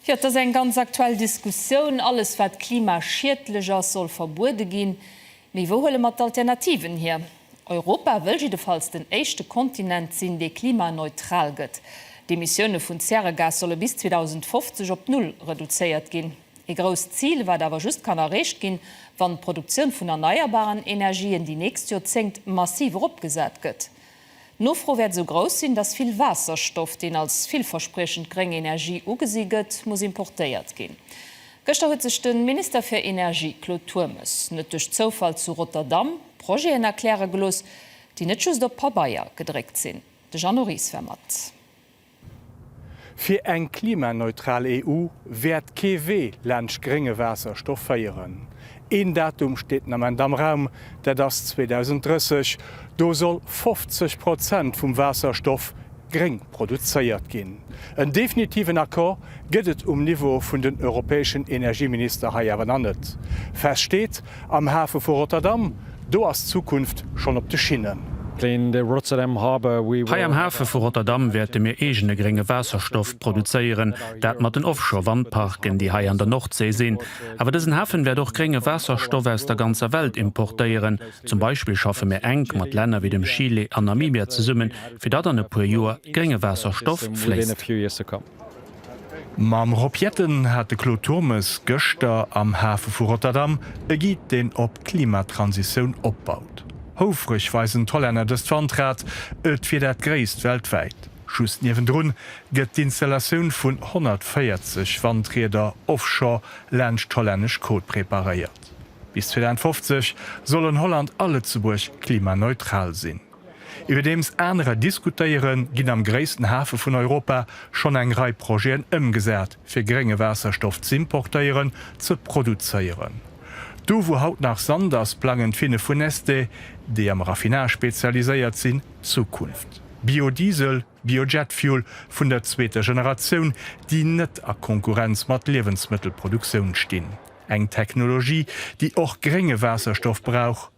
Jo, et ass eng ganz aktuell Diskussioun. Alles, wat klimaschiedlech ass, soll verbuede ginn. Mee wou huele mer d'Alternativen hier? Europa wëll jiddefalls den éischte Kontinent sinn, dee klimaneutral gëtt. D'Emissioune vun Zäregas solle bis 2050 op Null reduzéiert ginn. Ee grousst Zil, wat awer just kann erreecht ginn, wann d'Produktioun vun erneierbaren Energien déi nächst Joerzéngt massiv eropgesat gëtt. D'Nofro wäert esou grouss sinn, datt vill Waasserstoff, deen als villverspriechend gréng Energie ugesi gëtt, muss importéiert ginn. Gëschter huet sech de Minister fir Energie Claude Turmes net duerch Zoufall zu Rotterdam Projeten erkläre gelooss, déi net just op Pabeier gedréckt sinn. De Jeannot Ries war mat. Fir eng klimaneutral EU wäert kee Wee laanscht grénge Waasserstoff féieren. Een Datum steet den Ament am Raum, dat ass 2030. Do soll 50 Prozent vum Waasserstoff gréng produzéiert ginn. En definitiven Accord gëtt et um Niveau vun den europäeschen Energieminister hei awer nach net. Fest steet, Am Hafe vu Rotterdam, do ass d'Zukunft schonn op de Schinnen. Hei am Hafe vu Rotterdam wäerte mir eegene grénge Waasserstoff produzéieren, dat mat den Offshore-Wandparken, déi hei an der Nordsee sinn. Awer dësen Hafen wäert och grénge Waasserstoff aus der ganzer Welt importéieren. Zum Beispill schaffe mir enk mat Länner wéi dem Chile an Namibia zesummen, fir datt an e puer Joer grénge Waasserstoff fléisst. Mam Rob Jetten hat de Claude Turmes gëschter am Hafe vu Rotterdam e Guide deen op d'Klimatransitioun opbaut. Houfreg weisen d'Hollänner dëst Wandrad, et wier dat gréisst weltwäit. Just niewendrun gëtt d'Installatioun vun 140 Wandrieder offshore laanscht d'hollännesch Côte preparéiert. Bis 2050 soll an Holland a Lëtzebuerg klimaneutral sinn. Iwwerdeems anerer diskutéieren, ginn am gréissten Hafe vun Europa schonn eng Rei Projeten ëmgesat, fir grénge Waasserstoff z'importéieren, ze produzéieren. Do wou haut nach Sand ass, plangen d'Finne vu Neste, déi am Raffinage spezialiséiert sinn, d'Zukunft. Biodiesel, Biojetfuel vun der zweeter Generatioun, déi net a Konkurrenz mat Liewensmëttelproduktioun stinn. Eng Technologie, déi och grénge Waasserstoff brauch.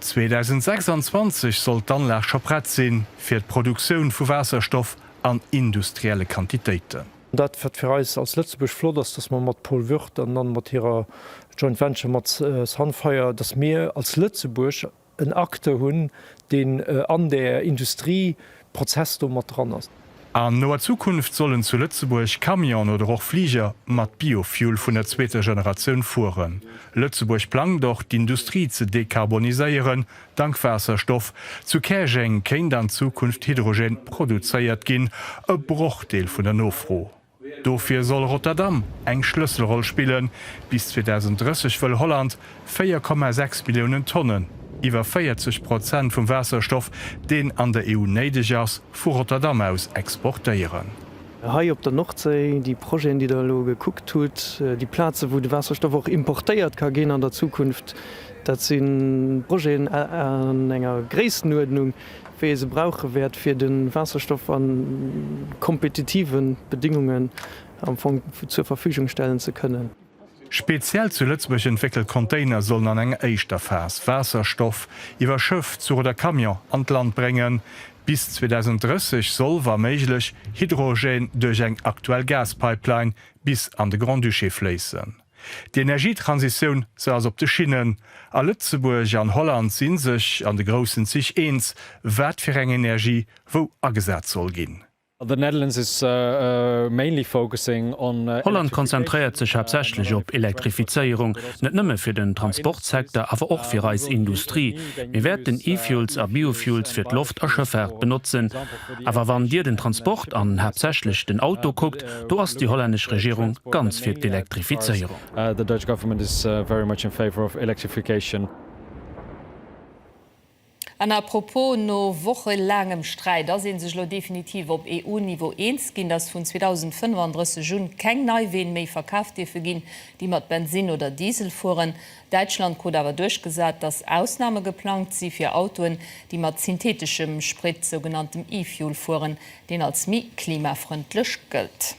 2026 soll d'Anlag scho prett sinn, fir d'Produktioun vu Waasserstoff an industrielle Quantitéiten. Dat, wat fir eis als Lëtzebuerg flott ass, dass mer mat Paul Wurth an dann mat hirer Joint Venture mat Sunfire, dass mir als Lëtzebuerg en Acteur hunn, deen an där Industrie Prozess do mat dran ass. An noer Zukunft sollen zu Lëtzebuerg Camionen oder och Fliger mat Biofuel vun der zweeter Generatioun fueren. Lëtzebuerg plangt och d'Industrie ze dekarboniséieren, dank Waasserstoff. Zu Käerjeng kéint an Zukunft Hydrogen produzéiert ginn, e Brochdeel vun der Nofro. Dofir soll Rotterdam eng Schlësselroll spillen. Bis 2030 wëll Holland 4,6 Milliounen Tonnen, iwwer 40 Prozent vum Waasserstoff, deen an der EU néideg ass, vu Rotterdam aus exportéieren. Hei op der Nordséi, déi Projeten, déi Der elo gekuckt hutt, déi Plazen, wou de Waasserstoff och importéiert ka ginn an der Zukunft, dat si Projeten an enger Gréissenuerdnung, wéi ee se brauche wäert, fir de Waasserstoff a kompetitive Bedéngungen am Fong zur Verfügung stellen ze kënnen. Speziell zu Lëtzebuerg entwéckelt Container sollen an enger éischter Phas Waasserstoff iwwer Schëff, Zuch oder Camion an d'Land bréngen. Bis 2030 soll, wa méiglech, Hydrogène duerch eng aktuell Gaspipeline bis an de Grand-Duché fléissen. D'Energietransitioun, se ass op de Schinnen. A Lëtzebuerg an Holland si sech an de groussen Zich eens, wat fir eng Energie wou agesat soll ginn. Holland konzentréiert sech haaptsächlech op Elektrifizéierung, net nëmme fir den Transportsecteur, awer och fir eis Industrie. Mir wäerten E-Fuels a Biofuels fir d'Loft a Schëffaart benotzen. Awer wann Dir den Transport an haaptsächlech den Auto kuckt, do ass déi hollännesch Regierung ganz fir d'Elektrifizéierung. An à propos, No wochelaangem Sträit ass ee sech elo definitiv op EU-Niveau eens ginn, dass vun 2035 un keng nei Ween méi verkaf dierfe ginn, déi mat Bensinn oder Diesel fueren. Däitschland krut awer duerchgesat, datt Ausname geplangt si fir Autoen, déi mat syntheteschem Sprit, sougenanntem E-Fuel, fueren, deen als méi klimafrëndlech gëllt.